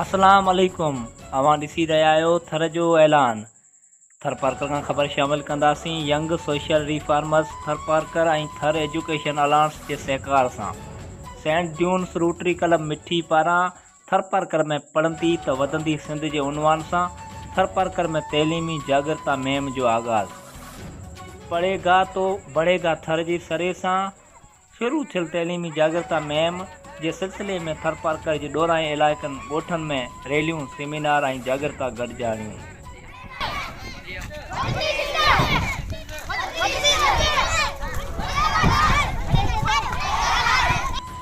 اسلام عليڪم اوهان ڏسي رهيا آهيو ٿر جو اعلان ٿرپارڪر کان خبر شامل ڪنداسين young social reformers Tharparkar ۽ Thar education alliance جي سهڪار سان saint Jones Rotary club Mithi پاران ٿرپارڪر ۾ پڙهندي ته وڌندي سنڌ جي عنوان سان ٿرپارڪر ۾ تعليمي جاڳرتا مهم جو آغاز پڙهي گا تو بڙهي گا ٿر جي سري سان شروع ٿيل تعليمي جاڳرتا مهم جي سلسلي ۾ ٿرپارڪر جي ڏورانهين علائقن ڳوٺن ۾ ريليون، سيمينار ۽ جاڳرتا گڏجاڻيون.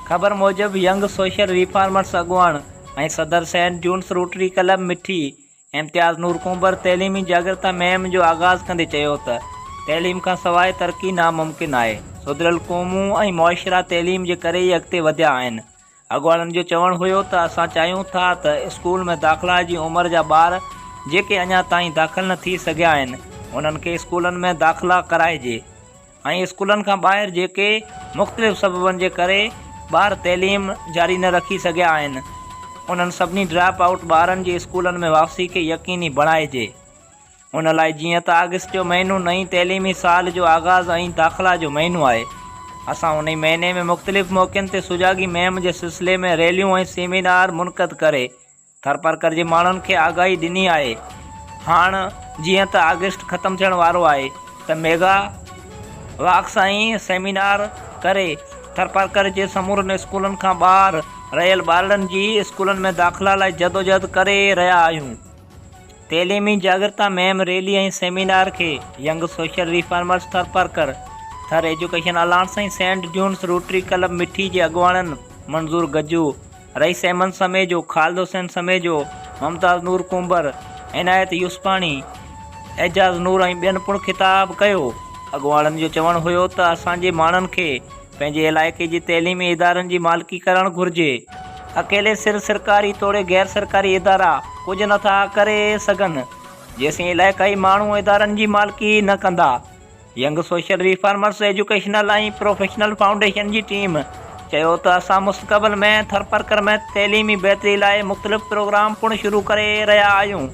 خبر موجب ينگ سوشل ريفارمرس اڳواڻ ۽ صدر saint Jones Rotary club Mithi, Imtiaz Noor Kumbhar تعليمي جاڳرتا مهم جو آغاز ڪندي چيو ته تعليم کان سواء ترقي ناممڪن آهي، سڌريل قومون ۽ معاشرا تعليم جي ڪري ئي اڳتي وڌيا آهن، اڳواڻن جو چوڻ هيو ته اسان چاهيون ٿا ته اسڪول ۾ داخلا جي عمر جا ٻار جيڪي اڃا تائين داخل نه ٿي سگهيا آهن انهن کي اسڪولن ۾ داخلا ڪرائجي. ۽ اسڪولن کان ٻاهر جيڪي مختلف سببن جي ڪري ٻار تعليم جاري نه رکي سگهيا آهن انهن سڀني ڊراپ آئوٽ ٻارن جي اسڪولن ۾ واپسي کي يقيني بڻائجي ان لاء جيئن ته آگسٽ جو مهينو نئين تعليمي سال جو آغاز ۽ داخلا جو مهينو آهي اسان انهي مهيني ۾ مختلف موقعن تي سجاڳي مهم جي سلسلي ۾ ريليون ۽ سيمينار منعقد ڪري ٿرپارڪر جي ماڻهن کي آگاهي ڏني آهي. هاڻ جيئن ته آگسٽ ختم ٿيڻ وارو آهي ته ميگا واڪس ۽ سيمينار ڪري ٿرپارڪر جي سمورن اسڪولن کان ٻاهر رهيل ٻارڙن جي اسڪولن ۾ داخلا لاء جدوجهد ڪري رهيا آهيون. تعليمي جاڳرتا مهم ريلي ۽ سيمينار کي young social reformers Tharparkar, Thar education alliance ۽ saint Jones rotary club Mithi جي اڳواڻن منظور گجو، رئيس احمد سميجو، خالد حسين سميجو، ممتاز نور ڪنڀر، عنايت يوسفاڻي، اعجاز نور ۽ ٻين پڻ خطاب ڪيو. اڳواڻن جو چوڻ هيو ته اسان جي ماڻهن کي پنهنجي علائقي جي تعليمي ادارن جي مالڪي ڪرڻ گهرجي، اڪيلي سر سرڪاري توڙي غير سرڪاري ادارا ڪجهه نٿا ڪري سگهن جيسين علائقائي ماڻهو ادارن جي مالڪي نه ڪندا. Young social reformers educational ۽ professional foundation جي ٽيم چيو ته اسان مستقبل ۾ ٿرپرڪر ۾ تعليمي بهتري لاء مختلف پروگرام پڻ شروع ڪري رهيا آهيون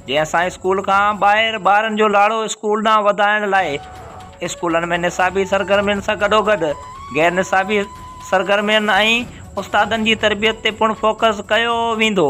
جي اسان اسڪول کان ٻاهر ٻارن جو لاڙو اسڪول ڏانهن وڌائڻ لاء اسڪولن ۾ نصابي سرگرمين سان گڏوگڏ غير نصابي سرگرمين ۽ استادن جي تربيت تي پڻ فوڪس ڪيو ويندو.